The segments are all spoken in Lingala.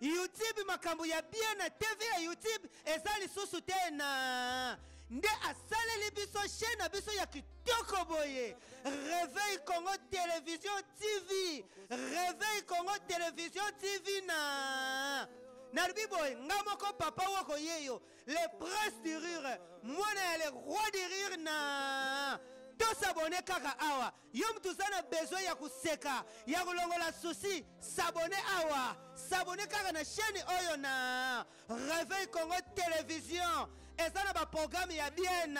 YouTube makambo ya bien na TV ya YouTube eza lisusu te na nde asaleli biso chaîne na biso ya kitoko boye Réveil Congo Télévision TV Réveil Congo Télévision TV na nalobi boye nga moko papa woko ye yo le prince du rire mwana ya le roi du rire na tosabone kaka awa Yo mutu oza na besoin ya koseka ya kolongola souci sabone awa sabone kaka na chaîne oyo na Réveil Congo Télévision eza na baprograme ya bien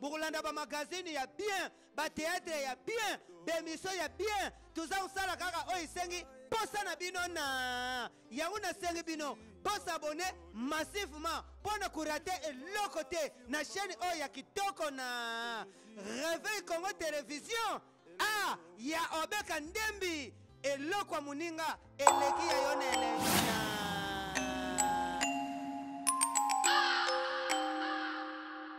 bokolanda bamagazine ya bien bateatre ya bien bemission ya bien toza kosala kaka oyo esengi mposa na bino na yango nasengi bino bosabone massivement mpo na kurate eloko te na chaîne oyo ya kitoko na réveil congo télévision a ya obeka ndembi eloko ya moninga eleki ya yo na elena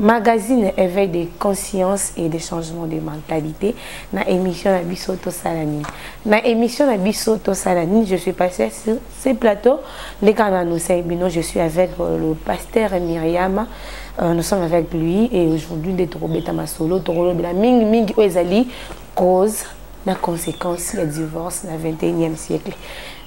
Magazine éveil de conscience et de changement de mentalité na émission na biso tosala nini na émission na biso tosala nini je suis passé sur ce plateau ndenge na annoncé bino je suis avec euh, le pasteur Myriam euh, nous sommes avec lui et aujourd'hui nde tokobeta masolo tokolobela mingi mingi oyo ezali cause na conséquence ya divorce na 21e siècle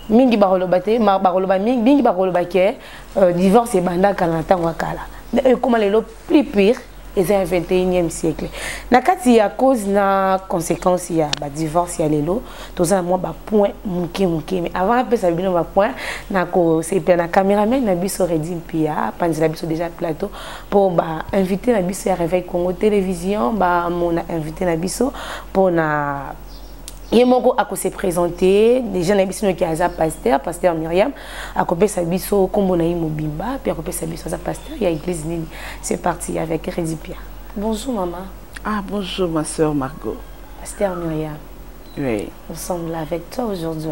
mingi bakoloba te bakoloba mingi mingi bakoloba ke Euh, divorce ebanda kala na ntango ya kala me oyo ekóma lelo plus pire eza ya 21e siècle na kati ya cause na conséquence ya badivorce ya lelo toza na mwa bapoint moke moke me avant napesa bino bapoint nakosepela na cameraman na biso redi mpia apanzela biso déjà plateau mpo bainvité na biso ya réveil congo télévision bamona invité na biso mpo na ye moko ako se présenter déjà na biso noki aza pasteur pasteur Myriam akopesa biso kombo na ye mobimba puis akopesa biso aza pasteur ya église nini c'est parti avec Reddy Pierre bonjour maman ah bonjour ma sœur Margot pasteur Myriam oui nous sommes là avec toi aujourd'hui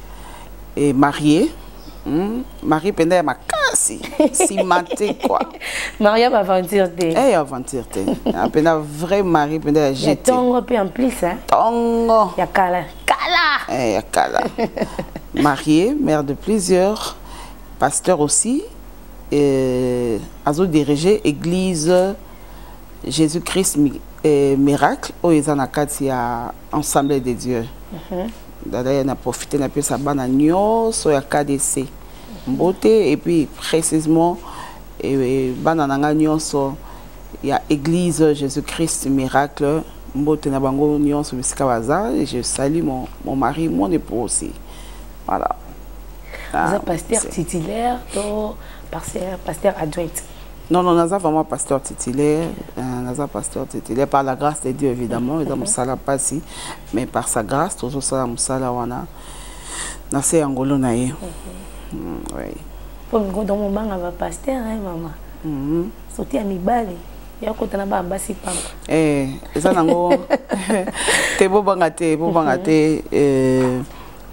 et marié hmm? marie mpenza ya makasi nsima te kua marie ya aventure te e eh, ya aventure te mpenza ah, vrai marie mpenza ya jete tongo mpe en plus tongo ya kala kala e ya kala marié mère de plusieurs pasteur aussi euh, azo diriger église jésus-christ euh, miracle oyo eza na kati ya ensemble de dieu mm -hmm. dada ya na profite na pesa bana nyonso ya KDC mbote et puis précisément eh, bana na ngai nyonso ya église Jésus-Christ miracle mbote na bango nyonso bisika baza et je salue mon, mon mari mon époux aussi voilà ah, pasteur titulaire to pasteur adjoint Non, non, naza vraiment pasteur titulaire. Euh, naza pasteur titulaire par la grâce de Dieu, évidemment. Eza musala pasi, mais par sa grâce, tozo sala musala wana. Na se angolo na ye. Mhm. Mm, oui. Pour ngo dans mon banga va pasteur, hein, maman. Mhm. Sauter à mi bali. ya kota na bana basi pamba eh eza nango te bobanga te bobanga mhm. te eh,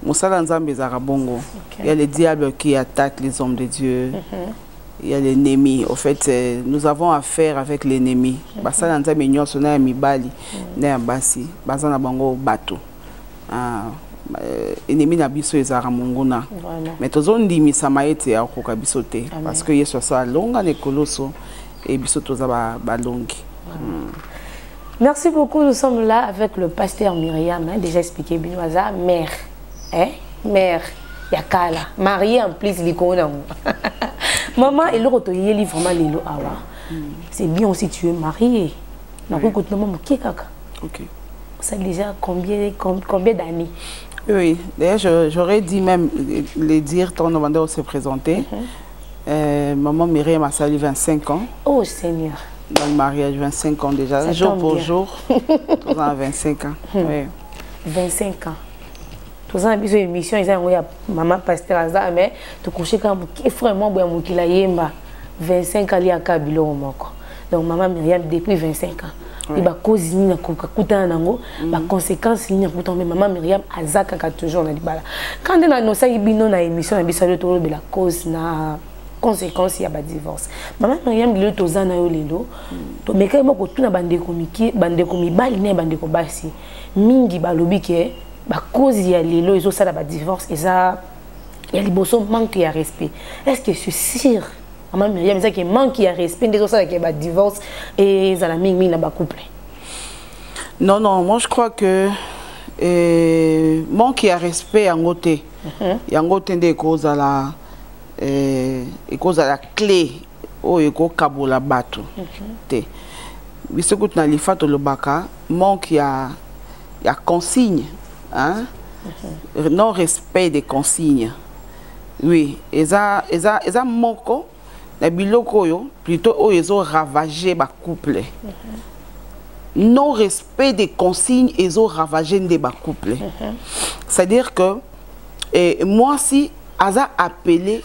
mosala nzambe ezalaka bongo okay. ya le diable qui attaque les hommes de dieu mm -hmm. Il y a l'ennemi. Au fait, euh, nous avons affaire avec l'ennemi. Mhm. Basala nzambe nyonso na ya mibali mhm. na ya basi baza na bango bato. Ah, euh, ennemi na biso ezalaka monguna mais tozondimisama ete akokoka biso te parce que yesu asala longa na ekoloso e biso toza balongi ba hmm. Merci beaucoup, nous sommes là avec le pasteur Myriam, hein, déjà expliqué, Binoza, mère. eh mère ya kala marie en plus likolo nango maman eloko toyeli vraiment lelo awa hmm. c'est bien aussi tu es marié nakoki kotuna mwa moke kaka ça déjà combien, combien d'années oui d'ailleurs j'aurais dit même les dire ton demandeur se présenter mm -hmm. euh, maman Myriam asali 25 ans oh seigneur dans le mariage 25 ans déjà ça jour pour bien. jour toza na 25 ans hmm. oui. 25 ans toza na biso émission eza yango ya mama pasteur aza mais tokoshe kaka moke frère mwa boya mokili ayemba 25 aliaka biloko moko donc mama myriam depuis 25 ans mpe bakozi nini akutana nango mm. baconséquence nini akutana mpe mama myriam aza kaka toujours na libala kande nanosaki bino na émission na biso alio tolobela cause na conséquence ya badivorce mama mariam lelo toza na yo lelo tomekaki mwa kotuna bandeko mike bandeko mibali na bandeko basi mingi balobi ke bakozi ya lelo ezosala badivorce eza ya liboso manque ya respect est ce que c'est sûr mama mariam ezaki manque ya respect nde ezosalaka badivorce ezala mingimingi na bacouple non non moi je crois que eh, manque ya respect yango te mhm. yango te nde ekozala eh, ekozala cle oyo ekokabola bato mhm. te biso kutu na lifa tolobaka manque ya, ya consigne hein? Mhm. non respect des consignes oui eza, eza, eza moko na biloko oyo plutôt oyo ezo ravage bacouple mm -hmm. non respect des consignes ezo ravage nde bacouple mm -hmm. c'est à dire que eh, mwasi aza apele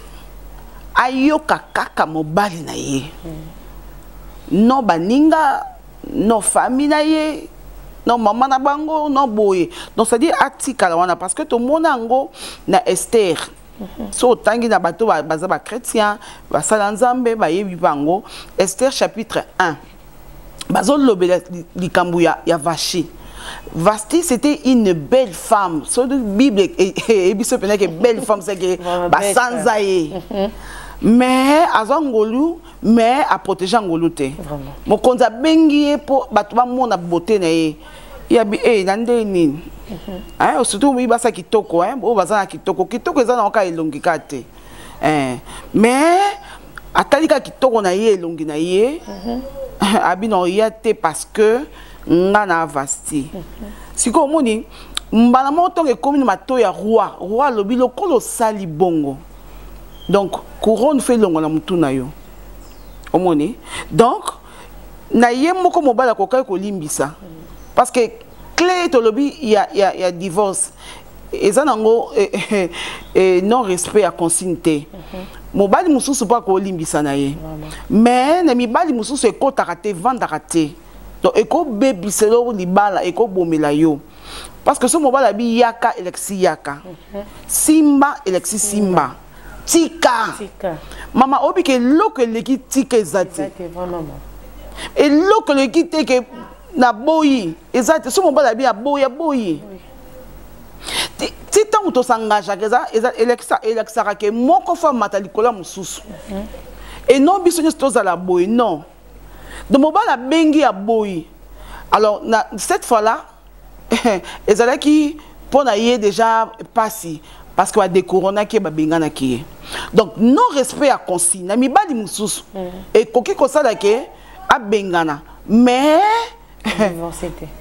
ayoka kaka mobali na ye mm. no baninga no fami na ye no mama na bango no boye donc c'est-à-dire atikala wana parce que tomona yango na ester mhm. so otangi na bato baza bachrétien basala nzambe bayebi bango ester chapitre 1 bazolobela likambo ya, ya vashi Vasti, c'était une belle femme. Sur la Bible, et biso pena que belle femme, c'est que basanza ye. Mhm. Mais aza ngolu, mais a protéger ngolu te. Mokonzi abengi ye po bato bamona beauté na ye. Ya bi eh na nde nini? Mhm. Hein, surtout oui basa kitoko hein, o baza na kitoko. Kitoko eza na oka elongi ka te. eh, mais atali kaka kitoko na ye elongi na ye mhm. abi na oya te parce que nga na avasti mhm. sikoyo omoni mbala moko ntongo ekomi na mato ya roi roi alobi lokola osali bongo donc couronne fe elongo na motu na yo omoni donc na ye moko mobali akokaki kolimbisa mhm. parce que clé tolobi ya, ya, ya divorce eza nango eh, eh, eh, eh, non respect ya consigne te mm -hmm. mobali mosusu mpo akolimbisa na ye mais na mibali mosusu ekotaka te evandaka te donc ekobebisa eloko libala ekobomela yo parce que so mobali abi yaka elakisi yaka mhm. simba elakisi simba mm -hmm. tika mama oyebi ke eloko eleki tika eza te eloko eleki te ke naboyi eza te so mobali abi aboyi aboyi ti ntango tosangageaka eza eza elekisa elekisaka ke moko fo amata likolo ya mosusu mhm. et non biso nyonso tozala boye non donc mobali abengi ya boyi alors na cette fois là ezalaki mpo na ye déjà mpasi parce que badekoronaki ye babenganaki ye donc non respect ya consigne na mibali mosusu mhm. ekoki kosala ke abengana mais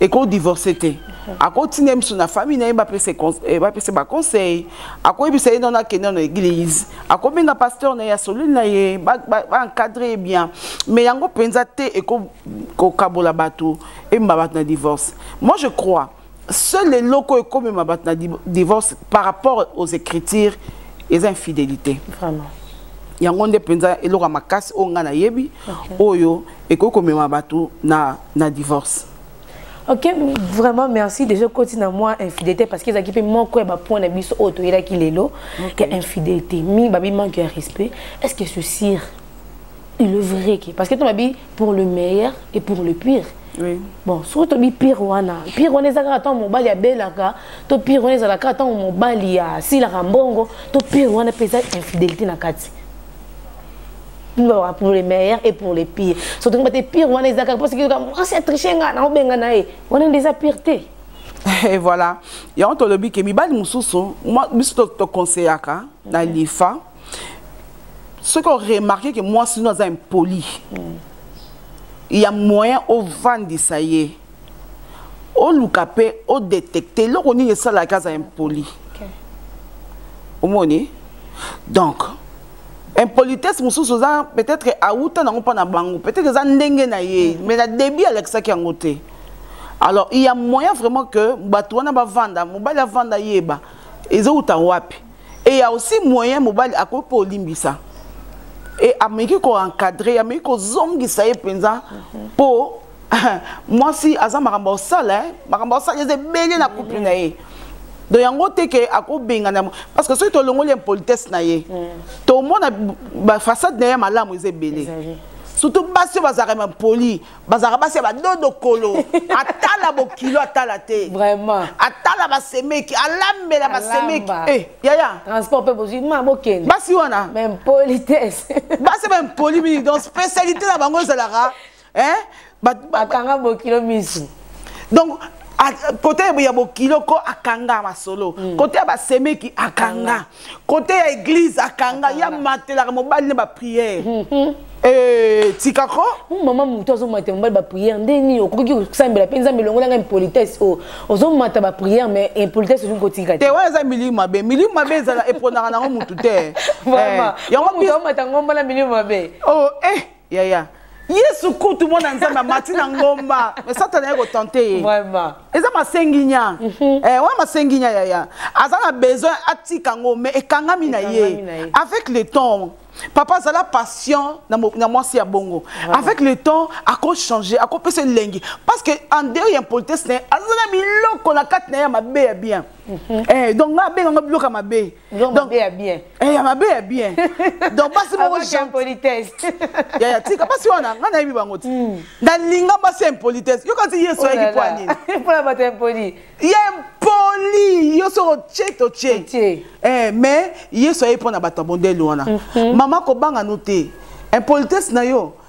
eko divorce te akotinda ye mosusu na famille na ye bapesa eh, baconseil akoyebisa ye nano akenda na église akobenga pasteur na ye asololi na ye baencadre ye bien mais yango mpenza te ekokabola bato emba bato na divorce moi je crois seul eloko ekomema bato na divorce par rapport aux écritures eza infidélité vraiment yango nde mpenza eloko ya makasi oyo ngai nayebi oyo ekoki komema bato na, na divorce ok vraiment merci déjà okoti na mwa infidélité parce que ezalaki mpe moko ya bapoint na biso oyo toyelaki lelo ya infidélité mi babi manque ya respect est ce que ceci il est vrai que parce que toi dit pour le meilleur et pour le pire oui. bon soki tobi pire wana pire wana eza kaka ntango mobali abelaka to pire wana ezala kaka ntango mobali asilaka mbongo to pire wana mpe eza infidélité na kati pour le meilleur et pour le pire surtout bate pire wana eza kaka mposoki mwasi atriche nga naobenga na ye wana nde eza pire te et voilà yango tolobi ke mibali mosusu biso toconseillaka na lifa soki oremarke ke mwasi no aza impoli mm. ya moyen ovandisa ye oluka mpe odetecte eloko nini esalaka aza impoli okay. omoni donc impolitesse mosusu oza peut-être awuta nango mpo na bango peut-être eza ndenge na ye mm. mais na début alakisaki yango te alors il y a moyen vraiment que bato wana bavanda mobali avanda yeba ezowuta wapi et ya aussi moyen mobali akoki mpo olimbisa e ameki koencadre ameki kozongisa ye mpenza mpo mwasi aza makambo osala eh. makambo osala eza ebele na couple na ye donc yango te ke akobengana parce que soki tolongoli impolitesse na ye mm. tomona bafaçade na ye ya malamu eza ebele surtout basi oyo bazalaka impoli bazalaka basi ya badodo kolo atala bokilo atala te vraiment atala basemeki alambela basemeki eh, yaya transport mpe bozwi ma bokende basi wana baimpolitesse basi baimpoli mingi donc spécialité na bango ezalaka bakanga bokilo misu donc kote ya bokilo ko akanga masolo kote ya basemeki akanga kote ya eglise akanga ya matelaka mobali na bapriere mhm. eh, tika ko hmm, mama moto azomata mobali bapriere nde nini okoki kosambela mpe nzambe elongola ngai impolitesse oyo oh, ozomata bapriere mais impolitesse ozoki kotika te wana eza milimu mabe milimu mabe ezala eponaka nango motu te eh, yango omata ngomba na milimu mabe oh, eh. yaya yesu kutu mwana nzambe amati na ngomba me satana ye kotante ye eza masenginya mhm. eh, wana masenginya yaya aza na besoin atika yango me ekangami na ye avec le temps papa azala patient na mwasi ya bongo avec le temps akochange akopesa elengi parce que en dehors ya impolitesse na ye aza na biloko na kati na ye ya mabe ya bien mhm. eh, donc nga abenga ngo biloko ya mabe donc mabe ya bien eh ya mabe ya bien donc basi moko jean politesse ya ya tika basi wana nga nayebi bango ti hmm. na linga basi impolitesse yo kasi yesu oh ayeki kwa nini pona bato impoli ya impoli yo soko tie to tie eh mais yesu ayebi pona bato ya bondeli wana mhm. mama kobanga no te impolitesse na yo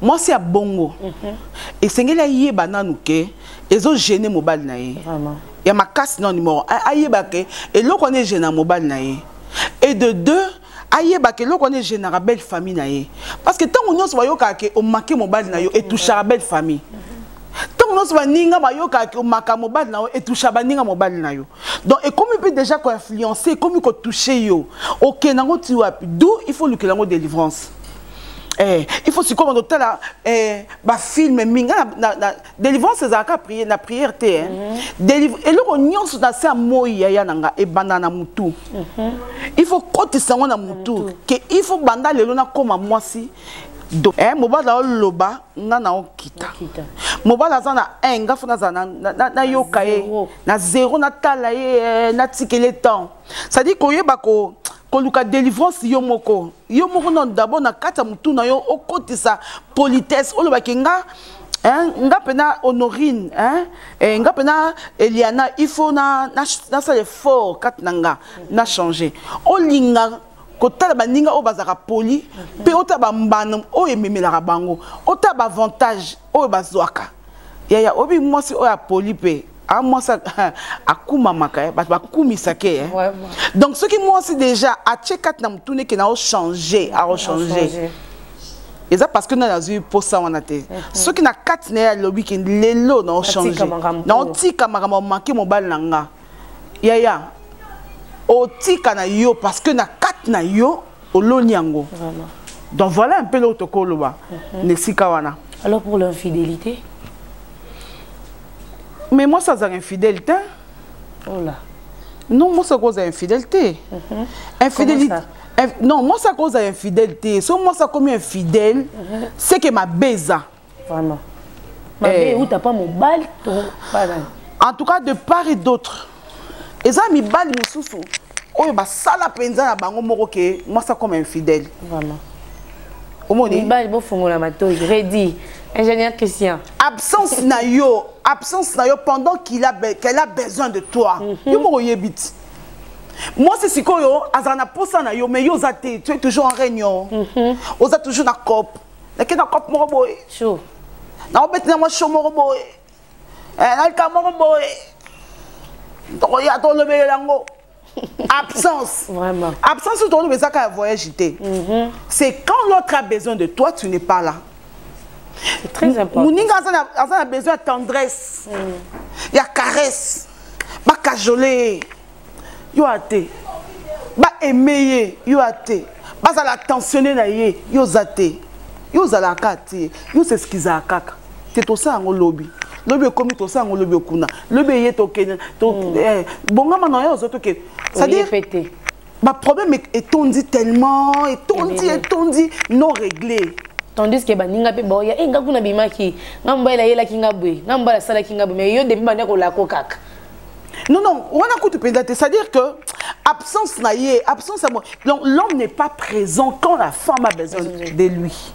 mwasi ya bongo mhm. esengeli ayeba nanu ke ezogene mobali na ye ya makasi na numero ayeba ke eloko wana egena mobali na ye et de deux ayeba ke eloko wana egenaka belle famille na ye parce que ntango nyonso bayokaka ke omake mobali na yo etouchaka belle famille ntango nyonso baninga bayokaka ke omaka mobali na yo etoucha baninga mobali na yo donc ekomi mpe déjà koinfluence ekomi kotouche yo okenda yango ti wapi d'où il faut olukela yango délivrance Eh, il faut sikoyo bando tala eh, bafilme mingi na, na, na délivrance ezalaka prier, na prière te eh. mm -hmm. eloko nyonso na se ya moi yaya na nga ebanda na motu mm -hmm. il faut kotisa yango na motu mm -hmm. ke il faut banda lelo nakóma mwasi eh, mobali aoloba nga na okita mobali aza na un nga fo nazala nayoka ye na zero natala ye eh, natikele temps cestadire koyeba ko koluka délivrance yo moko yo moko nano d'abord na kati ya motu na yo okotisa politesse olobaki nga Hein, nga pena honorine hein, eh, nga pena eliana il faut nasala na, na effort kati na nga na changer olinga kotala baninga oyo bazalaka poli mpe otala bambano oyo ememelaka bango otala baavantage oyo bazwaka yaya oyebi mwasi oyo apoli mpe a mwasi akumamaka eh, bato bakumisaka ye eh. donc soki mwasi déjà atye kati na motuna eke nao change aochange eza parce que nani azwi mposa wana te mhm. soki na kati na ye alobi ke lelo naochange naotika makambo make mobali na nga yaya otika na yo parce que na kati na yo oloni yango donc voilà un peu eloko tokoki oloba mhm. na esika wana alors pour l'infidélité mais mwasi azalaka infidèle te ola oh non mwasi akoki ozala infidèle te mhm. infidélité non mwasi akoki ozala infidèle te so mwasi akomi infidèle mhm. seke mabe eza mm -hmm. vraiment mabe eh. euta mpa mobali to mpa nani en tout cas de part et d'autre eza mibali mosusu oyo basala mpenza na bango moko ke mwasi akoma infidèle vraiment omoni mibali bofungola matoi redi ingénieur christian absence na yo absence na yo pendant qu'il a qu'elle a besoin de toi mhm. yo moko oyebi ti mwasi sikoyo azala na mposa na yo mais yo oza te tu es toujours en réunion mhm. oza toujours na cope nakei na cope moko boye naobeti na mwa sho moko boye eh, nalika moko boye tokoya tolobelela yango absence vraiment absence oyo toloba ezaka ya voyage te mhm. c'est quand l'autre a besoin de toi tu n'es pas là c'est très important moninga aza na besoin ya tendresse mm. ya caresse bakajole yo ate ba aime ye yo ate bazala tensionne na ye yo oza te yo ozalaka te yo sesikizaka kaka te tosala yango lobi lobi ekomi tosala yango lobi okuna lobi eye tokende hmm. eh, bongama na yo ozo toke cestadire baproblème etondi tellement etondi etondi non réglé tandis ke baninga mpe baoya e eh, nga kuna bimaki nga mobali ayelaki nga boye nga mobali asalaki nga boye mais yo depuis banda kolako kaka Non, non, on a coup de C'est-à-dire que absence na ye, absence à moi. Donc l'homme n'est pas présent quand la femme a besoin de lui.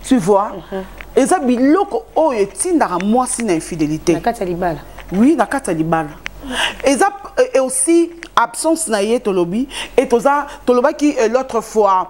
Tu vois mhm. Et ça, biloko, oh, et tindara moi si na infidélité. Na kata libala. Oui, na kata libala. Et ça, et aussi absence na ye tolobi et toza tolobaki euh, l'autre fois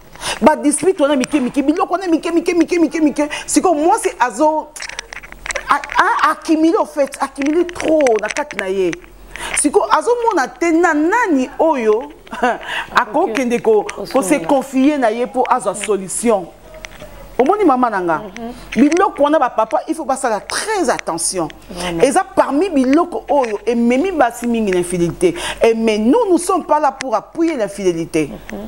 ba district wana mike mike biloko wana mike mike mike mike mike sikoyo mwasi azo accumule au fait accumule trop na kati na ye sikoyo azomona te na nani oyo akokende kose confie na ye mpo azwa solution omoni mama na nga mhm. biloko wana bapapa il faut basala très attention eza parmi biloko oyo ememi basi mingi na infidélité mais nous nous sommes pas là pour appuyer l'infidélité mm -hmm.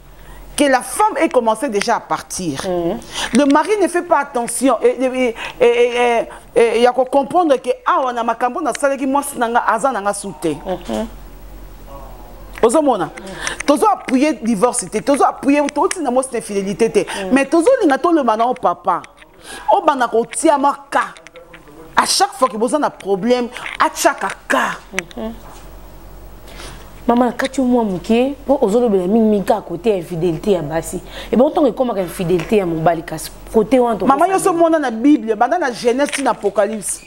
que la femme ait commencé déjà à partir. Mm. Le mari ne fait pas attention et, et, et, et, et, il y a qu'on comprendre que ah on a ma cambo na salaki moi nanga aza nanga souté. Mm-hmm. ozomona mm. tozo appuyer divorce te tozo appuyer toti na mwasi na fidélité te mm. mais tozolinga tolobana o papa obanda kotia mwa ka à chaque fois que boza na problème atiaka ka mhm. mama nakati yo mwa moke mpo ozolobela mingimingi kaka kote ya infidélité ya basi ebongo ntango ekomaka infidélité ya mobali kasi kote wana mama nyonso omona na bible banda na genèse ti na apocalypse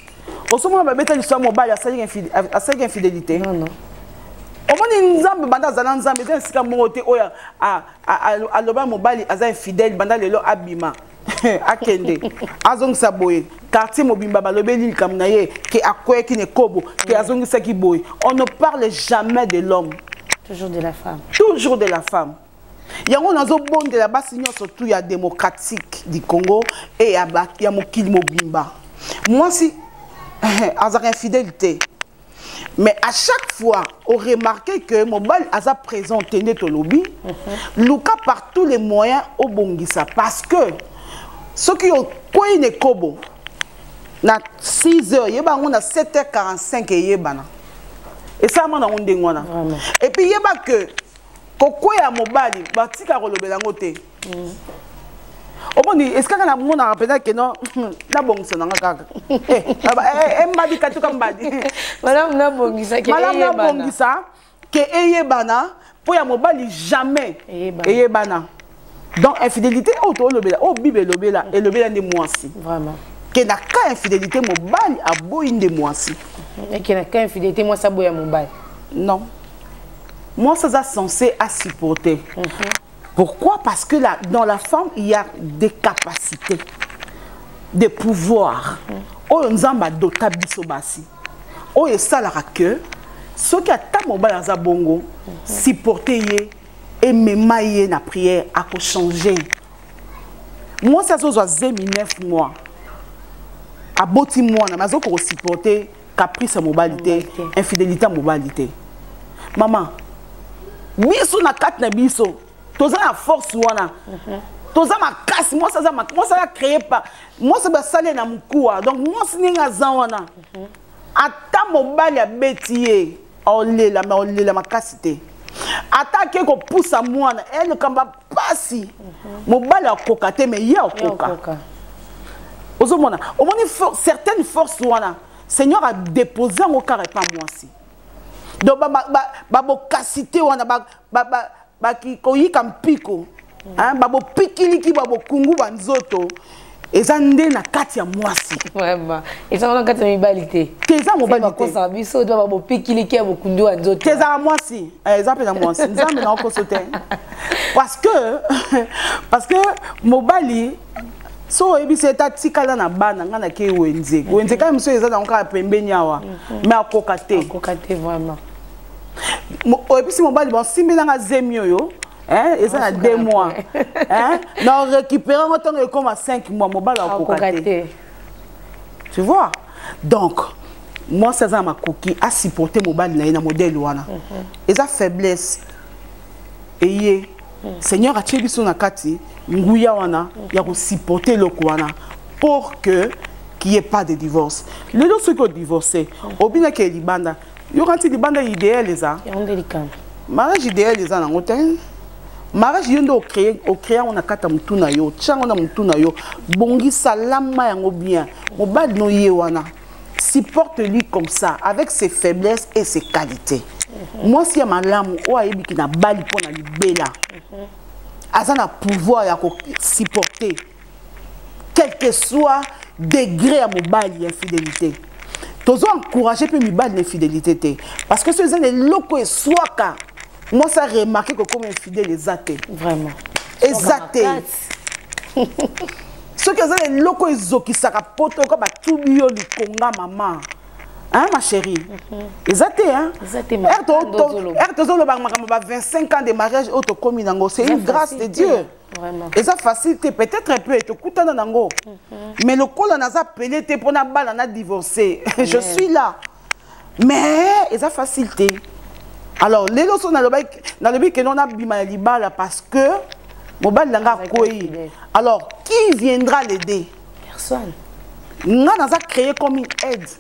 osomona babeta liso ya mobali asalaki infidélité omoni nzambe banda azala nzambe eza esika moko te oyo aloba mobali aza infidèle banda lelo abima akende azongisa boye quartier mobimba balobeli likambo na ye ke akweyaki na ekobo ke azongisaki boye on ne parle jamais de l'homme toujours de la femme toujours de la femme yango nazobondela basi nyonso tu ya démocratique du congo e ya mokili mobimba mwasi azalaka infidèle te mais à chaque fois on remarquait que mobali aza présent te nde tolobi mhm. luka par tous les moyens obongisa parce que soki okwei na ekobo na 6 heures yeba yango na 7 heures 45 eyebana esalama nango ndenge wana epuis yeba que kokwea mobali batika kolobela yango te omoni esikaka na monaka mpenza keno nabongisa nanga kaka eh, eh, eh, mbadi katuka mbadi malamu nabongisa ke eyebana mpo ya mobali jamais eyebana donc infidélité oyo toolobela oyo bible elobela elobela nde mwasi ke na ka infidélité mobali aboyi nde mwasi ke na ka infidélité mwasi aboya mobali non mwasi aza censé asupporte mhm. Pourquoi Parce que la, dans la femme, il y a des capacités, des pouvoirs. Mm. Oyo nzamba dota biso basi. Oyo esalaka que soki ata mobali aza bongo mhm. supporte ye emema ye na prière akochange mwasi azozwa zemi 9 mois aboti mwana me azoki kosupporte caprice ya mobali te infidélité ya mobali te mama biso na kati na biso toza na force wana mhm. toza makasi mwasi aza mwasi aza créé pa mwasi basali na mokuwa donc mwasi ndenge aza wana mhm. ata mobali abeti ye olela me olela makasi te ata ake kopusa mwana e eh, likambo pasi mobali akoka te mais ye akoka ozomona omoni for, certaines forces wana seigneur adépose yango kaka epa mwasi donc babokasi te wana koyika mpiko babopikiliki babokungu banzoto eza nde na kati ya mwasi ezanga na kati ya mibali te te eza mobali tekosa biso to babopikiliki ya bokundi wa nzoto te ezala mwasi eh, eza mpenza mwasi nzambe na okoso te parce que parce que mobali so oyebisi ete atikala na bana ngai nake wenze wenze kaka mosusu eza nango kaka pembeni awa mhm. mais akoka te oyebisi mobali basimbelanga zemi oyo Hein, eza na 2 mois hein? na récupéré yango ntango ekoma 5 mois mobali akoka te tu vois donc mwasi aza na makoki asupporte mobali na ye na modele wana mhm. eza faiblesse eye mhm. seigneur atie biso na kati nguya wana mhm. ya kosupporte eloko wana pour que qu'il n'y ait pas de divorce lelo soki odivorce obinaki libanda yoka nti libanda idéal eza yango nde likambo mariage idéal eza nango te mariage yo nde ocréa yango na kati ya motu na yo otya yango na motu na yo bongisa lama yango bien mobali no ye wana supporte lui comme ça avec ses faiblesses et ses qualités mhm. mwasi ya malamu oyo ayebiki na bali mpo na libela mhm. aza na pouvoir ya kosupporte quel que soit degré ya mobali ya infidélité tozo encourage mpe mibali na infidélité te parce que soki eza na eloko eswaka mwasi aremarke kokoma infidèle eza te vraiment eza te soki eza na eloko ezokisaka poto oka batubi yo likonga mama hein ma chérie mhm. eza te hein erte tozolobaka makambo ba 25 ans de mariage oyo tokomi nango c'est une grâce de dieu eza facile te peut-être mpe tokutana nango mhm. mais lokola naza pele te mpo nabala na divorce je suis là mais eza facile te alors lelo so nalobi keno nabima ya libala parce que mobali na nga akwei alors qui viendra l'aider personne nga naza créé comme une aide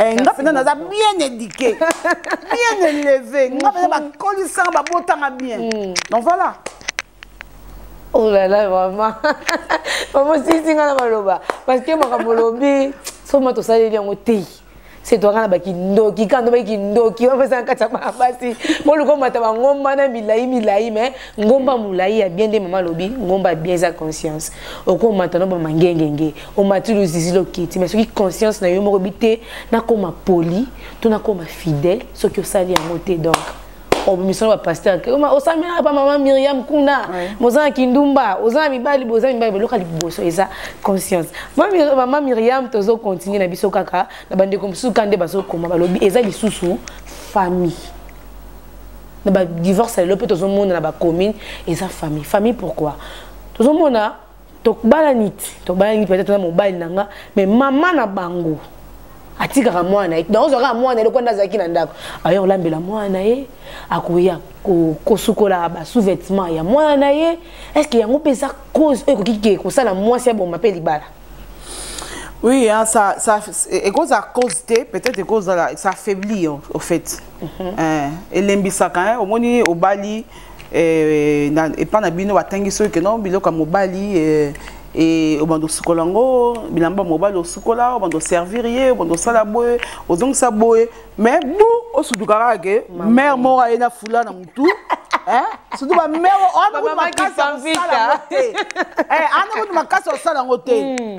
Eh, nga mpenza naza bien éduqué bien élevé nga mpenza bakolisanga babotanga bien hmm. donc voilà oh là là vraiment mama osilisi nga na maloba parce que makambo olobi soma tosaleli yango te setwanga na bakindoki kando bai kindoki bapesaka kati ya bana basi boluka omata bangomba na milai milai mai ngomba molai ya bien nde mama alobi ngomba ya bien eza conscience okomata no bamangengenge omati luzizi lokiti mais soki conscience na yo moko bi te nakoma poli to nakoma fidèle soki osali yango te donc obimisana bapaster osamelaka pa mama miriam kuna boza na kindumba oza na mibali boza mibali boloka liboso eza conscience mama miriam tozo continue na biso kaka na bandeko mosusu ka nde bazokoma balobi eza lisusu famille na badivorce ya lelo mpe tozomonana bacommune eza famille famille pourquoi tozomona tobalani tobalani peut-être na mobali na nga mais mama na bango atikaka mwana ye donc ozwaka mwana eloko nde azalaki na ndako aye kolambela mwana na ye akoya kosukola basous-vêtement ya mwana na ye est ce que yango mpe eza cause oyo ekoki ke kosala mwasi aboma mpe libala oui hein, ça, ça, ekozala cause te peut-être ekozala ça affaibli au fait mhm. eh, elembisaka omoni obali eh, na epa na bino batangi soki keno biloko ya mobali eh, e obanda osukola yango bilamba mobali osukola obanda oservir ye obanda osala boye ozongisa boye mais bu osutuka kaka ke mare moko aye na fula na motu surtout bamare wana kutu makasi ya kosala yango te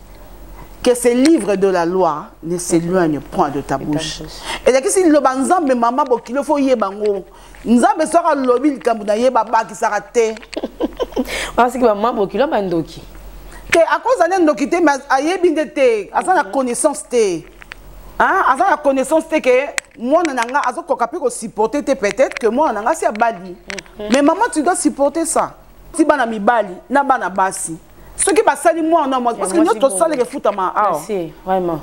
que ces livres de la loi ne s'éloignent point de ta bouche elakisi liloba nzambe mama bokilo fo oyeba yango nzambe soki alobi likambo na ye babakisaka te asiki mama bokilo bandoki te akoza nde ndoki te mais ayebi nde te aza na connaissance te aza na connaissance te ke mwana na nga azokoka mpe kosupporte te peut-être que mwana na nga si abali mhm. mais mama tu dois supporter ça ti bana mibali na bana basi soki basali mwana na mwasi parce que nyonso tosalaka efutama awa vraiment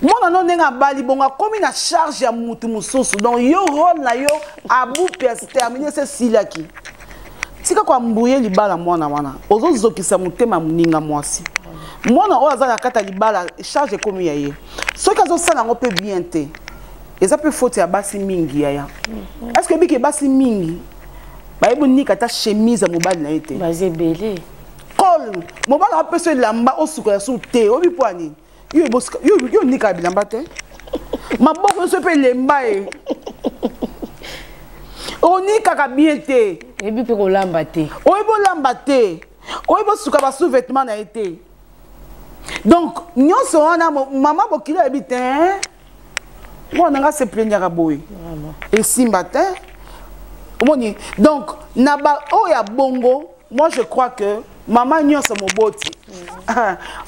mwana no ndenge abali bongo akomi na charge ya mutu mosusu donc yo role na yo abupe astermine se silaki tika koambuye libala mwana wana ozozokisa motema ya moninga mwasi mwana oyo aza na kati ya libala charge ekomi ya ye soki azosala yango mpe bien te eza mpe foti ya basi mingi yaya mm-hmm. est ce que ebiki basi mingi bayebi onika ata chemise ya mobali na ye te baza ebele col mobali apesa elamba osuka ya suku te oyebi mpo ya nini yo onika bilamba te maboko nyonso mpe elemba ye onikaka bien te oyebi mpe kolamba te oyebi olamba te oyebi osuka basous vêtement na ye te donc nyonso wana mama bokilo ayebi te mwana na ngai se plaignaka boye esimba te omoni donc na baoyo ya bongo moi je crois que mama nyonso moboti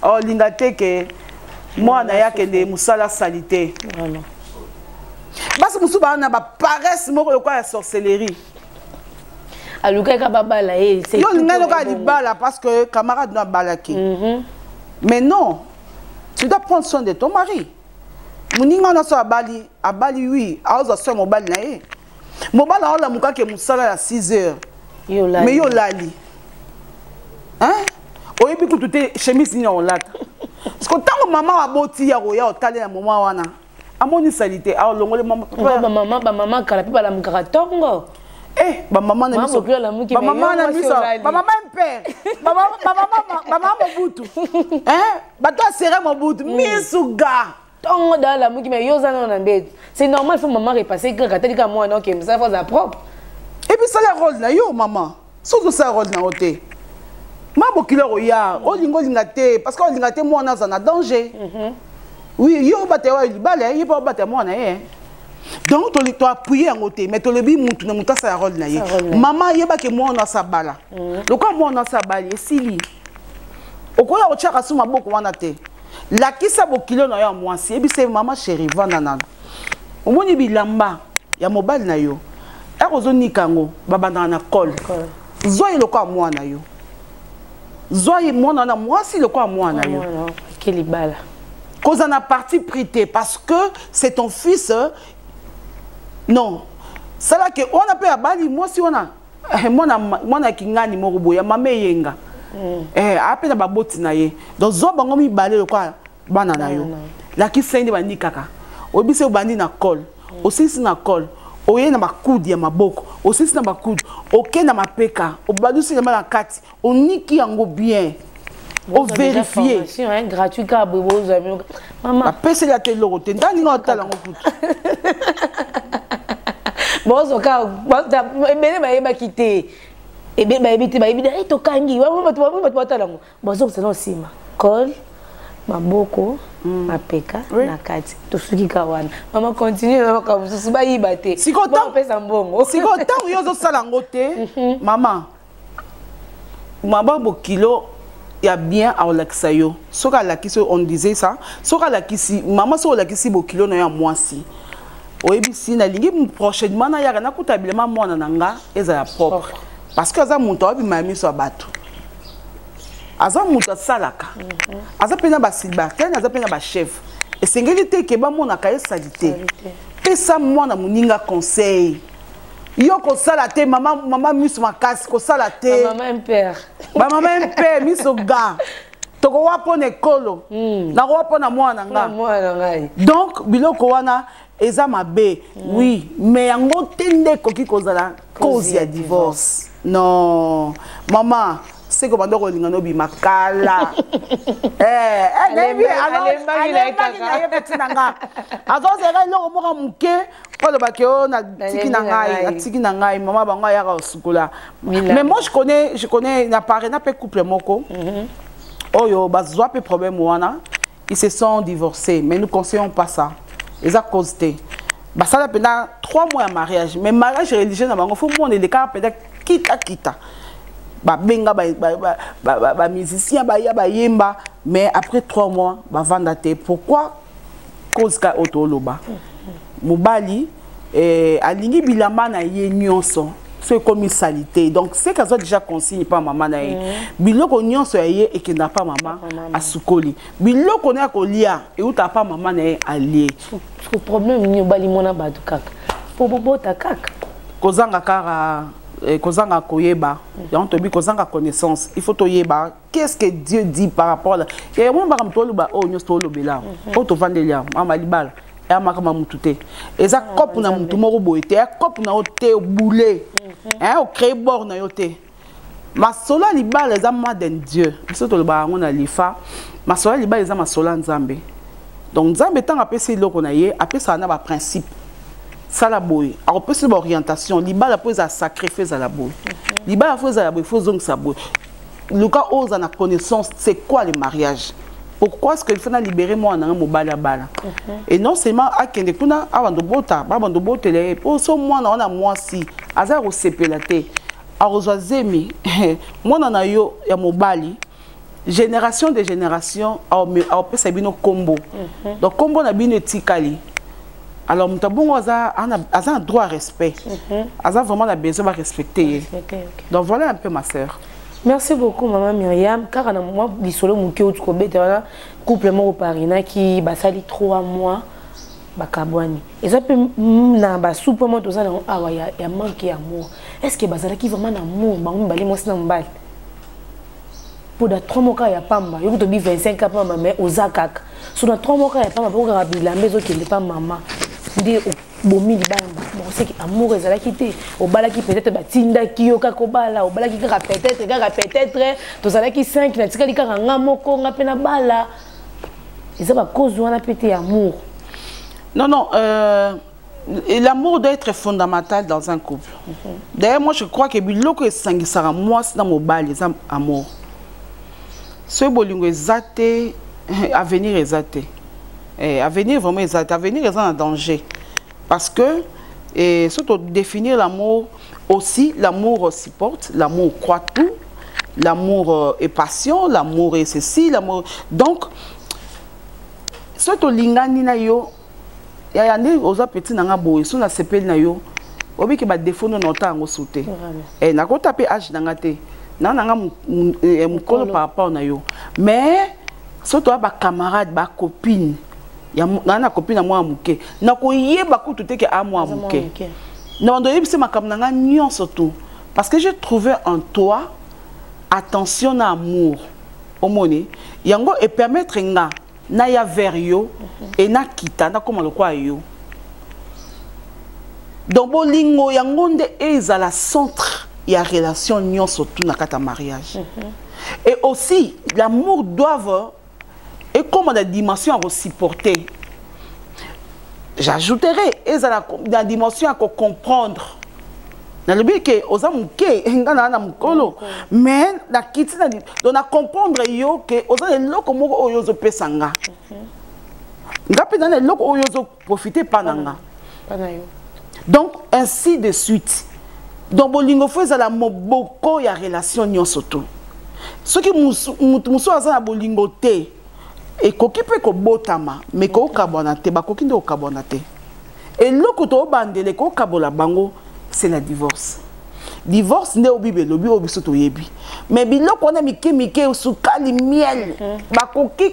olinga oh, te ke mwana ye akende mosala sali te basi mosusu baa na baparese moko lokola ya sorcellerie alukaka babala ye yo olingai lokola libala parce que camarade no abalaki mhm. mais non tu dois prendre soin de ton mari moninga wana so abali abali wi aozwa so ya mobali na ye mobali aolamuka ke mosala ya 6 heures me yo olali oyebi kutu te chemise nini akolata siko ntango mama aboti ya koya otalela moma wana amoni salite alongoli bamama bamama kala mpe balamukaka ntongo Eh, ba maman na biso ba maman na biso ba maman père ba maman ba maman mobutu hein bato asere mobutu mm. misuga ntongo dala lamuki me yo oza nano na mbetu c'est normal fo mama repasse kaka atali kaka mwana oke mosala fo aza propre epuis sala role na yo mama soki osala role na yo te ma bokili okoya olinga olinga te parce que olinga te mwana aza na danger mhm. oui yo obatela oyo libala ye mpe obatela mwana ye donc toappuye yango te mais tolobi mutu na motu asala role na ye mama ayebaki mwana asabala mhm. lokola mwana asabali esili okoya kotyaka su maboko wana te lakisa bokilo na yo ya mwasi yebisa ye mama sheri vanda nano omoni bilamba ya mobali na yo akozonika yango babandaka na cole zwa ye lokola mwana yo zwa ye mwana wana mwasi lokola mwana yo libala kozala na parti pris te parce que c'est ton fils euh, non sala ke wana mpe abali mwasi wana eh, mwana mwana kingani moko boya mama eyenga mm. eh ape na baboti na ye donc zo bango mibale lokola bana na yo lakisa nde bandi kaka oyebisi obandi na col mm. osilisi na col oye na bakudi ya maboko osilisi na bakudi oke na mapeka obalusi elamba na kati oniki yango bien overifie gratuit kaka boye bozwa bino mama apeseli ata eloko te ntango nini otala yango kutu bozo kaka ebele bayebaki te ebele bayebi te bayebi e tokangi bato batala yango bazokisa na nsima col maboko mm. mapeka oui. na kati tosuki ka wana mama continue na makambo mosusu bayiba te sikoopesa mbongo sikoyo ntango yo ozosala yango te mhm. mama maba bokilo ya bien akolakisa yo soki alakisi on disait ça soki alakisi mama soki olakisi bokilo na yo ya mwasi oyebisi nalingi prochainement nayaka nakuta bilema mwana na nga ezala propre parce que aza moto aobima ya miso ya bato aza moto asalaka mhm. aza mpe na basilibartene aza mpe na bachef esengeli te ke bamonaka ye salite pesa mwana moninga conseil yo kosala te mama mama miso makasi kosala te mama impere ba mama impere miso ga tokowa mpo na ekolo hmm. nakowa mpo na mwana na ngai donc biloko wana eza mabe hmm. oui mais yango te nde ekoki kozala cause ya divorce non mama seko banda kolinga nobima kala eh, eh, alembaki na ye peti na nga azozela eloko moko moke oloba ke o na tiki na ngai atiki na ngai mama bango ayaka osukola mais moi je connais je connais na paris na pe couple moko mhm. oyo bazwa pe problème wana ils se sont divorcés mais nous conseillons pas ça eza cause te basala mpenza trois mois ya mariage mais mariage religieux na bango fo mona elekaka mpenza kita kita babenga bamusicien baya bayemba mais après trois mois bavanda te pourquoi cause ka oyo toloba mobali eh, alingi bilamba na ye nyonso so ekomi salite donc seke azwa déjà consigne mpa mama na ye mm. biloko nyonso ya ye ekendaka mpa mama asukoli biloko na ya kolia eutaka mpa mama na ye alie problème nini obali mwana bato kaka mpo bobota kaka kozanga kaka eh, kozanga koyeba yango toyebi kozanga connaissance il faut toyeba qu'est-ce que Dieu dit par rapport à et on va comme toi le ba oh nous toi le bela oh to vendre là mama libala ya makama mutu te eza ah, cope na mutu moko boye te ya cope na yo te boule mhm. hein o créer bord na yo te masolo ya libala eza maden dieu biso tolobaka yango na lifa masolo ya libala eza masolo ya nzambe donc nzambe ntango apesi eloko na ye apesaka na baprincipe sala boye akopesa baorientation libala mpo ezala sacré fo ezala boye mhm. libala fo ezala boye fo ozongisa boye luka oza na connaissance c'est quoi le mariage pourquoi ce que faut na libérer moi na mobali abala mhm. et non seulement akende kuna abando bota babando botela ye po so mwana wana mwasi aza kosepela te akozwa zemi mwana na yo ya mobali génération de génération aopesa bino kombo mhm. donc kombo na bino etikali alors moto abongo aza aza na droit ya respect mhm. aza vraiment na besoin barespecte ye donc voilà un peu ma sœur merci beaucoup mama myriam kaka na mwa lisolo moke outi kobeta wana couple moko parinaki basali 3 mois bakabwani eza mpe na basupe moko toza nango awa ya manke ya amour est ce que bazalaki vraiment na amour bango mibale mwasi na mobali mpo na 3 moka ya pamba yoki tobi 25 ka pamba mai oza kaka so na 3 moka ya pamba mpo kaka bilamba ezokende mpa mama nde bomi libala mbala moko seke amour ezalaki te obalaki peut-être batindaki yo kaka obala obalaki kaka peut-être kaka peut-être tozalaki 5 natikali kaka nga moko nga mpe nabala eza bacause wana mpe te amour non non euh... Et l'amour doit être fondamental dans un couple. Mm -hmm. D'ailleurs, moi, je crois que biloko esangisaka mwasi na mobali eza amour. Soki bolingo eza te, avenir eza te. Eh, avenir vraiment eza te. Avenir eza na danger. Parce que eh, surtout définir l'amour aussi, l'amour supporte, l'amour croit tout, l'amour euh, est passion, l'amour est ceci, l'amour. Donc, soki tolingani na yo yaya nde oza petit na nga boye so nasepeli na yo oyebi ke badefo nde naota yango su te eh, nakota mpe age na nga te na na nga eh, eh, mokolo par rapport na yo mais so toya bacamarade bacopine naa na copine ya mwana moke nakoyeba kutu te ke a mwana moke na bando oyebisi makambo na nga nyonso tu parce que j'ai trouvé en toi attention na amour omoni yango epermettre nga na ya vers yo mhm. et na kita na koma lokwa yo donc bolingo yango nde ezala centre ya relation nyonso tout na kata mariage mhm. et aussi l'amour doivent ekoma na dimension ya kosupporter j'ajouterai ezala na dimension ya kocomprendre nalobi ke oza moke nga naa na mokolo mais nakiti na donc na comprendre yo ke oza na eloko moko oyo ozopesa nga mhm. nga mpe na na eloko oyo ozoprofite epa na nga donc ainsi de suite donc bolingo fo ezala moboko ya relation nyonso to soki motu mosusu aza na bolingo te ekoki mpe kobotama me kokabwana te bakoki nde kokabwana te eloko tobandela ekokabola bango c'est la divorce divorce nde obibi elobi oyo biso toyebi me biloko wana mike mike sukali miel mhm. bakoki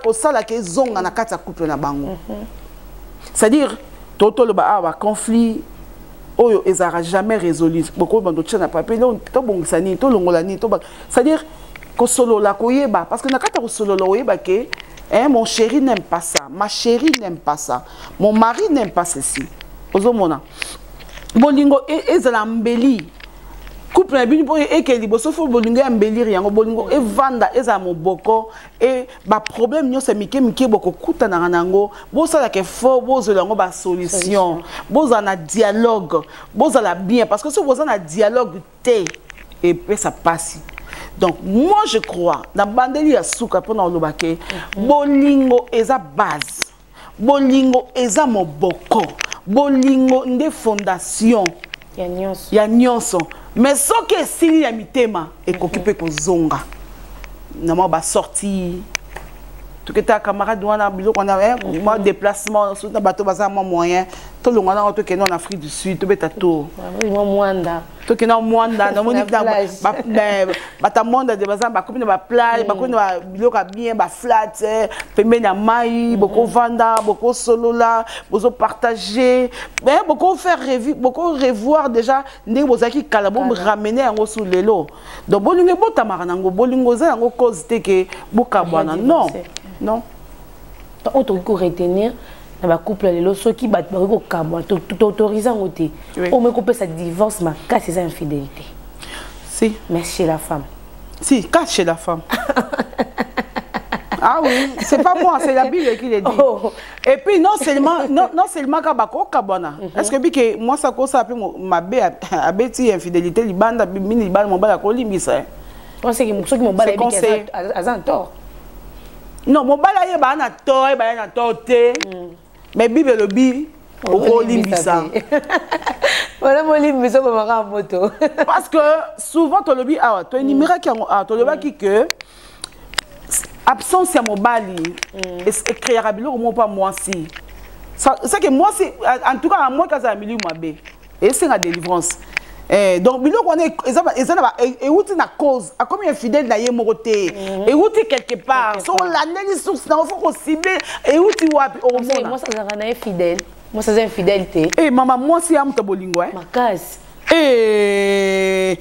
kosalaka ezonga na kati ya couple na bango mhm. c'est-à-dire totoloba awa baconflit oyo ezalaka jamais résolu bokoki bando tya na papier tobongisa nini tolongola nini c'est à dire kosolola koyeba parce que na kati ya kosolola oyeba ke eh, mon chéri n'aime pas ça ma chérie n'aime pas ça mon mari n'aime pas ceci ozomona bolingo e, ezala mbeli couple na bino mpo ekende liboso fo bolingo ya mbelire yango bolingo evanda ezala moboko e baproblème nyonso ya mike mike bokokutanaka na yango bosalaka effort bozwela yango basolution bozala na dialogue bozala bien parce que soki boza na dialogue te epesa pasi donc moi je crois na bandeli ya suka mpona koloba ke mhm. bolingo eza base bolingo eza moboko bolingo nde fondation ya nyonso mais soki esili ya mitema ekoki mpe mhm. kozonga na mwa basorti toketaka camarade wana biloko wana eh, mwa mhm. déplacement na bato baza mwa moyen tolonga nango tokende na afrique du sud tobeta tour mwanda tokenda mwanda namoni bata mwanda de baza bakomi na baplage mm. bakomi na biloko ya bien baflate eh, pembeni ya mai mm-hmm. bokovanda bokosolola bozopartage eh, bokofaire revu bokorevoir déjà ndenge bozalaki kala boramene yango su lelo donc bolingo ebotamaka nango bolingo eza yango cause te ke bokabwana non non oyo tokoki koretenir na ba couple lelo soki bato bakoki kokamwa toautorise yango te oyo moki kopesa divorce makasi eza infidélité si mais chez la femme si cas chez la femme Ah oui, c'est pas moi, c'est la Bible qui le dit. Oh. Et puis non seulement non, non seulement kabako kabana. Mm -hmm. Est-ce que bike moi ça ko ça pe ma be abeti infidélité libanda mini libanda mon bala ko limbisa. Hein. On sait que ceux qui mon bala bike azan tort. non mobali ayeba na to ayeba na to te mm. mais bible elobi okolimbisa wana molimbisa okomaka moto parce que souvent tolobi awa toenimeraki yango awa tolobaki que absence ya mobali mm. ecreaka biloko moko mpa mwasi seke mwasi en tout cas amoki azala miliu mabe esenga délivrance Eh, donc biloko wana eza na euti e na cause akomi infidèle na ye moko te mhm. euti quelque part so olandeli source nango fo kosible euti wapi okomonazalaka na ye fidèle mwasi aza infidèle te e mama mwasi ya moto bolingo e makasi eh,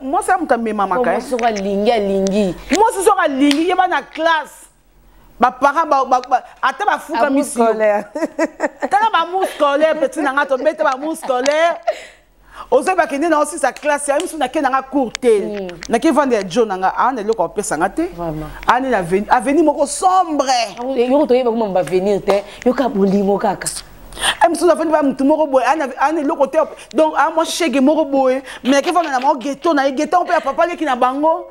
mwasi ya moto amemamaka eh. mwasi soki alingi alingi mwasi soki alingi yeba na classe ba parents ba, ba, ba ata ba fuka misi tala ba mou scolaire petit nanga to beta ba mou scolaire ozo ba kende na aussi sa classe ya misu na kende nga cours te hmm. na ki vendre ya John nga a na loko pesa nga te ani na avenue moko sombre ah yoko to yeba ko mamba venir te yoka bolimo kaka misu na vandi ba mutu moko boye ani loko te donc a moi shege moko boye mais ki vanda na mo ghetto na ghetto pe ya papa leki na bango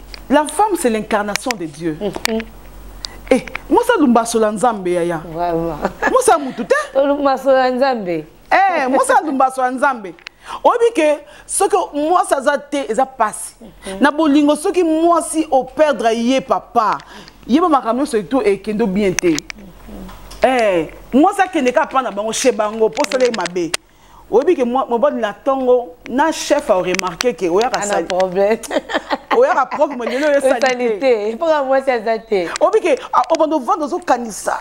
la femme c'est l'incarnation de dieu mm -hmm. eh, mwasi alumbasola nzambe yaya mwasi ya motu te olumbasola nzambe eh, mwasi alumbasola nzambe oyebi ke soki mwasi aza te eza mpasi mhm. na bolingo soki mwasi operdre ye papa yeba makambo nyonso etu ekendo bien te mhm. eh, mwasi akende kaka mpa na bango chez bango mpo osala ye mabe oyebi ke mobali na tongo na chef au remarquer ke oyaka sali problème oyaka propre mais lelo yo sali te pona mwasi aza te oyebi ke obanda ovanda ozokanisa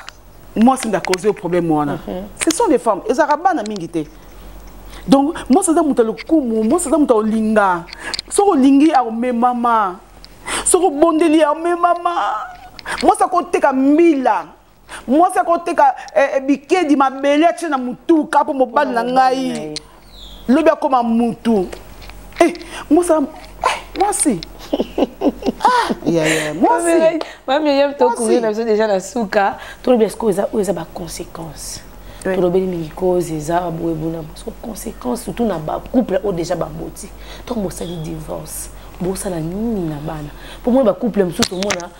mwasi nde akozi yo problème wana mhm. ce sont des femmes ezalaka bana mingi te donc mwasi aza moto ya lokumu mwasi aza moto ya olinga soki olingi akomemama soki obondeli akomemama mwasi akoteka mbila mwasi akoteka eh, eh, bikedi mabele atie na motuka mpo mobali na ngai lobi akoma mutu eh, mwasi mwasi mamiyem tokuri na biso deja na suka tolobi esiko oyo eza baconséquence tolobeli mingi cause eza baboye bona mosuku conséquence surtout na bacouple oyo deja baboti ntango bosali divorce bosala nini na bana mpo mona bacouple mosusu omona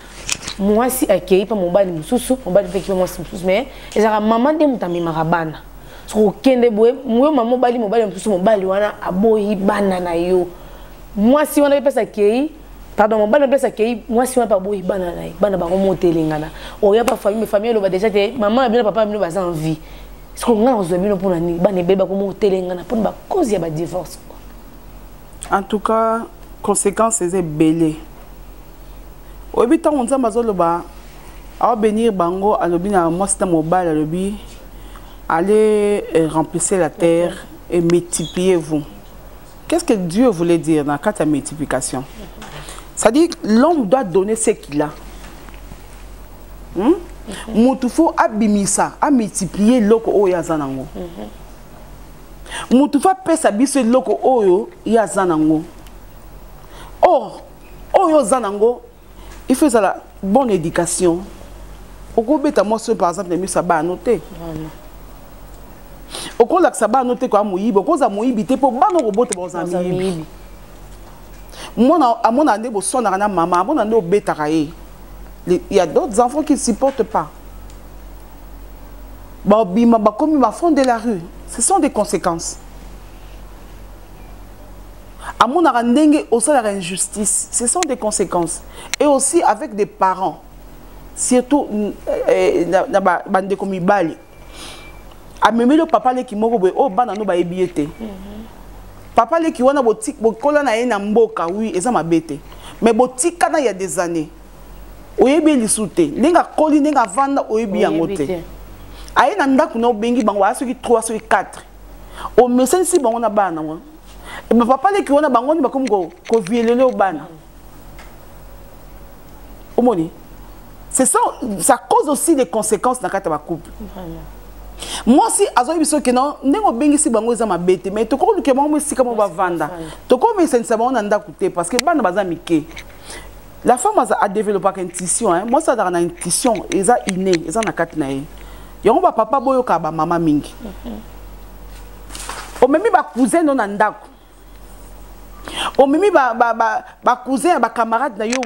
mwasi akei mpe mobali mosusu mobali mpe kipe mwasi mosusu mais ezalaka mama nde moto amemaka bana soki okende boye yo mama mobali mobali mosusu mobali wana aboyi bana na yo mwasi wana epesa akei pardon mobali apesa kei mwasi wana mpe aboyi bana na ye bana bango motelengana oya mpe famille famille eloba deja te mama na bino papa na bino baza en vie sikoyo ngai nakozwa bino mpo na nini bana ebele bakomotelengana mpo na bacause ya badivorce en tout cas conséquence eza ebele oyebi ntango nzambe azoloba aobenir bango alobi na mwasi na mobali alobi allez euh, remplissez la terre et multipliez vous qu'est-ce que dieu voulait dire na kati ya multiplication c'est-à-dire l'homme doit donner ce qu'il a hmm? motu fo abimisa amultiplie eloko oyo aza nango motu fo apesa biso eloko oyo ye aza nango or oyo oza nango il faut ezala bonne éducation okobeta mwasi oyo par exemple na miso ya bana no te okolakisa bana no te koya moyibi okozala moyibi te mpo bana okobota bakozala miyibi mwana amonaka nde boswanaka na mama amona nde obetaka ye il y a d'autres enfants qui ne supportent pas babima bakomi bafond de la rue ce sont des conséquences amonaka ndenge osalaka injustice ce sont des conséquences et aussi avec des parents surtout mm, eh, na bandeko mibali amemeli papa leki moko boye oyo oh, bana no bayebi ye te mhm. papa leki wana bokola na ye na mboka wi eza mabe te mais botikana ya des années oyebi ye lisu te ndenge akoli ndenge avanda oyebi yango te aye na ndako na obengi bango aya soki 3 soki 4 omesanisi bango na bana nango eh bapapa leki wana bango nde bakomi kovielele bana omoni c'est ça ça cause aussi des conséquences na kati ya bacouple mwasi azwaki biso ke na ndenge obengisi bango eza mabe te mais tokoki koluka bango esika moko bavanda tokomesanisa bango na ndako te parce que bana baza mike la femme aza a développaka intuition hein moi ça dans na intuition eza inné eza na kati na ye yango ba papa boyo ka ba mama mingi mm-hmm. omemi ba cousin no na ndako omemi ba ba ba ba cousin ba camarade na yo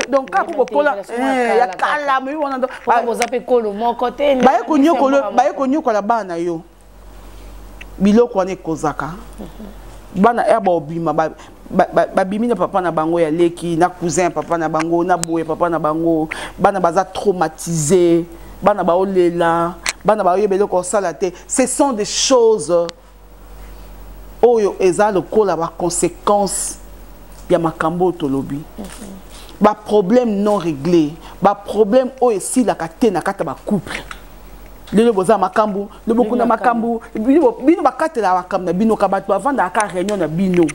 donc ka ko kola eh, ya kala mais wana donc boza pe kolo moko te ba ko nyokolo ba ko nyokola bana yo biloko wana ekozaka bana ya baobima babimi na papa na bango ya leki na cousin ya papa na bango na boye papa na bango bana baza traumatise bana baolela bana baoyeba eloko osala te ce sont des choses oyo eza lokola baconséquence ya makambo oyo tolobi baproblème non réglé baproblème oyo esilaka te na kati ya bacouple lelo boza makambo lobokuna makambo bino bakatela makambo na bino ka bato bavandaka ka réunion na bino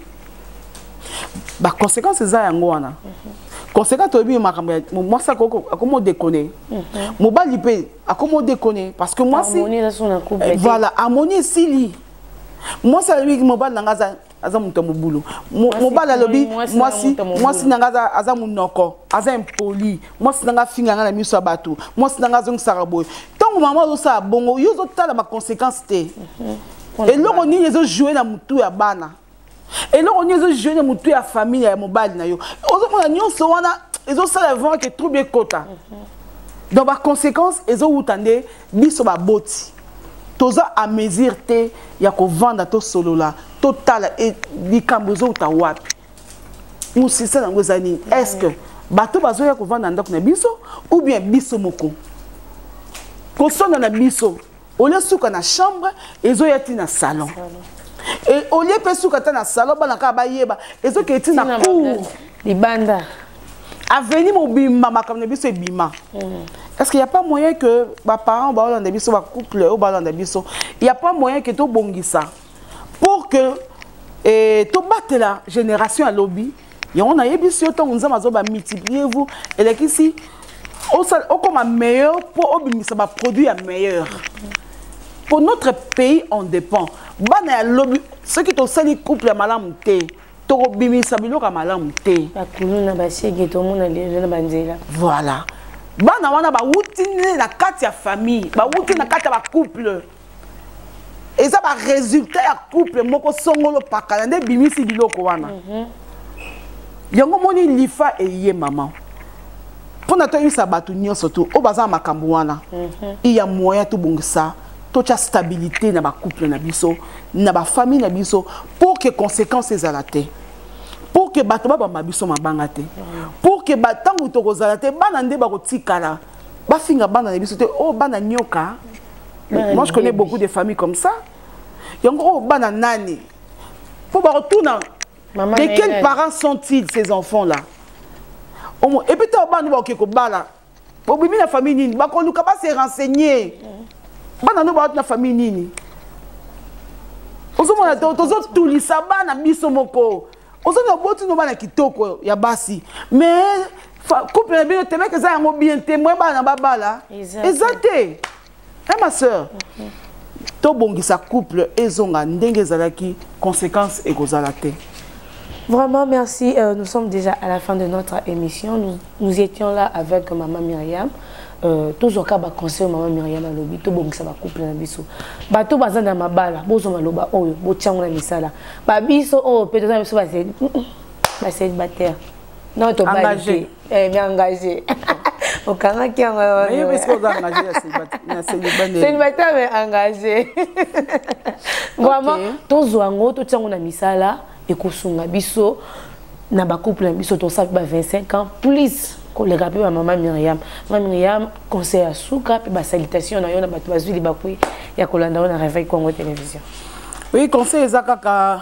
baconséquence eza yango wana mhm. conséquence toyebi makambo ya mwasi akoma odekone mhm. mobali mpe akoma odekone parce que mwasi voilà amoni esili mwasi alobi mobali na ngai aza aza moto ya mobulu mobali alobi mwasi na ngai aza monoko aza impoli mwasi na ngai afinga ngai na miso ya bato mwasi na ngai azongisaka boye ntango mama ozosala bongo yo ozotala baconséquence te mhm. eloko nini ezojoue na motu ya bana eloko nini ezojoue na motu ya famille ya mobali na yo ozomona nyonso wana ezosala vraiment ke trouble ekota mhm. donc baconséquence ezowuta nde Biso baboti toza a mesure te ya kovanda tosolola totala e, likambo ezouta wapi mosisa yango eza nini est ce que bato bazoya kovanda ndako na biso ou bien biso moko kosonda na biso olie suka na chambre ezoya ti na salon olie mpe suka ata na salon bana kaka bayeba ezokee ti na cour libanda aveni mobimba makambo na biso ebima mm. est ce qu'il n'y a pas moyen que baparent baolanda biso bacouple oyo balanda biso il n'y a pas moyen que tobongisa pour que eh, tobatela génération ya lobi yango nayebisi yo ntango nzambe azoba multiplier vous elekisi okoma meilleur mpo obimisa baproduit ya meilleur mpo notre pays en dépend bana ya lobi soki tosali couple ya malamu te tokobimisa biloko ya malamu te bakulu na basege tomona lelo na banzela voilà bana wana bawuti nde na kati ya famille bawuti na kati ya bacouple eza baresultat ya couple moko songolo pakala nde ebimisi biloko wana mm -hmm. yango omoni lifa eye mama mpo na toyebisa bato nyonso tu oyo baza na makambo wana mhm. iya moyen tobongisa totya stabilité na bacouple na biso na bafamille na biso pour que conséquence ezala te pour que bato babamba biso mabanga te pour que ntango tokozala te bana nde bakotikala bafinga bana na biso te oyo oh, bana nyoka moi je connais beaucoup de familles comme ça yango oyo oh, bana nani mpo bakotuna de quels parents sont-ils ces enfants là et puis ntango bana nde bakoke kobala obimi na famille nini bakoluka base renseigner bana no bawati na famille nini ozomona tozotulisa bana biso moko ozoni oboti no bana kitoko ya basi mais couple na bino temeke eza yango bien te moye bana babala eza te eh ma sœur tobongisa couple ezonga ndenge ezalaki conséquence ekozala te Vraiment, merci. Euh, nous sommes déjà à la fin de notre émission. Nous, nous étions là avec Maman Myriam. Euh, tous au cas, conseil Maman Myriam à l'obi, tout bon que ça va couper la bisou. Bah, tout bazan dans ma balle, bozo maloba, oh, bo tiang la misala. Bah, bisou, oh, peut-être, ça va c'est, bah, c'est une bataille. non tobalite eh, engage okangaki yango célibataire mais engage vraiment tozwa yango totia yango na misala ekosunga biso na bacouple na biso tosala mpe ba 25 ans plus koleka mpe bamama miriam ma miriam conseil ya suka mpe basalitation na yo na bato bazwi libakui ya kolanda yo na réveil congo télévision oui conseil eza kaka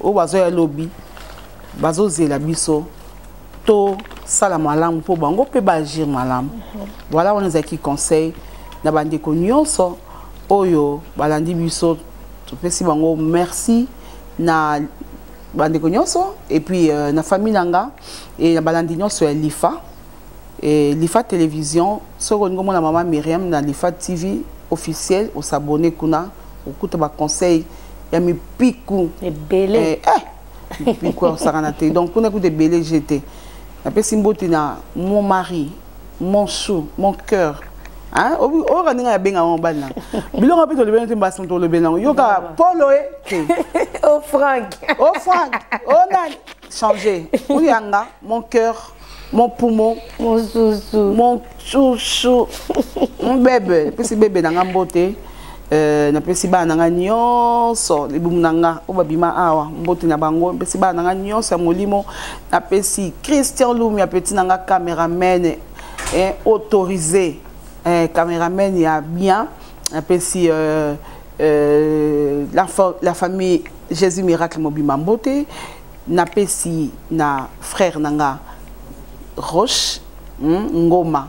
oyo bazoya lobi bazozela biso tosala malamu mpo bango mpe baagir malamu voilà wana ezalaki conseil na bandeko nyonso oyo balandi biso topesi bango merci na bandeko nyonso epuis euh, na famille na nga e na balandi nyonso ya lifa e, lifa télévision soki olingi omona mama myriam na lifa tv officiel osabone kuna okuta ba conseil ya mipiku ebele eh, eh. mipiku akosakana te donc kuna kuta ebele je te napesi mbote na mon mari mon chou mon cœur oyoka ndenge abenga yango mobali nango biloko mpe tolobeli te mbasi moto olobeli nango yoka polo e te o frank o frank o nani change oyanga mon cœur mon poumon mon chouchou mon chouchou mon bebe napesi bebe na nga mbote euh, napesi bana na nga nyonso libumu na nga oyo babima awa mbote na bango napesi bana na nga nyonso ya molimo napesi christian lumia peti na nga cameraman eh, autorisé eh, cameraman ya bien napesi euh, euh, la, la famille jésus miracle mobima mbote napesi na frère na nga roche hmm, ngoma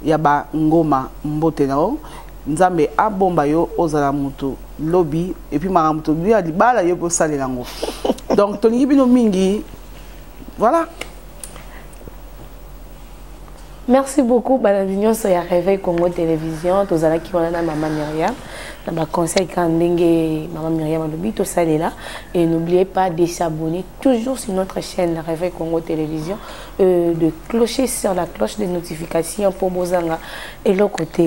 ya ba ngoma mbote na yo nzambe abomba yo ozala moto lobi epuis makambo tolobi ya libala yo mpe osalela yango donc tolingi bino mingi voilà Merci beaucoup balandi nyonso ya Réveil Congo Télévision tozalaki wana na mama Myriam na ba conseil kaka ndenge mama Myriam alobi tosalela et n'oubliez pas de s'abonner toujours sur notre chaîne Réveil Congo Télévision euh, de clocher sur la cloche des notifications mpo bozanga eloko te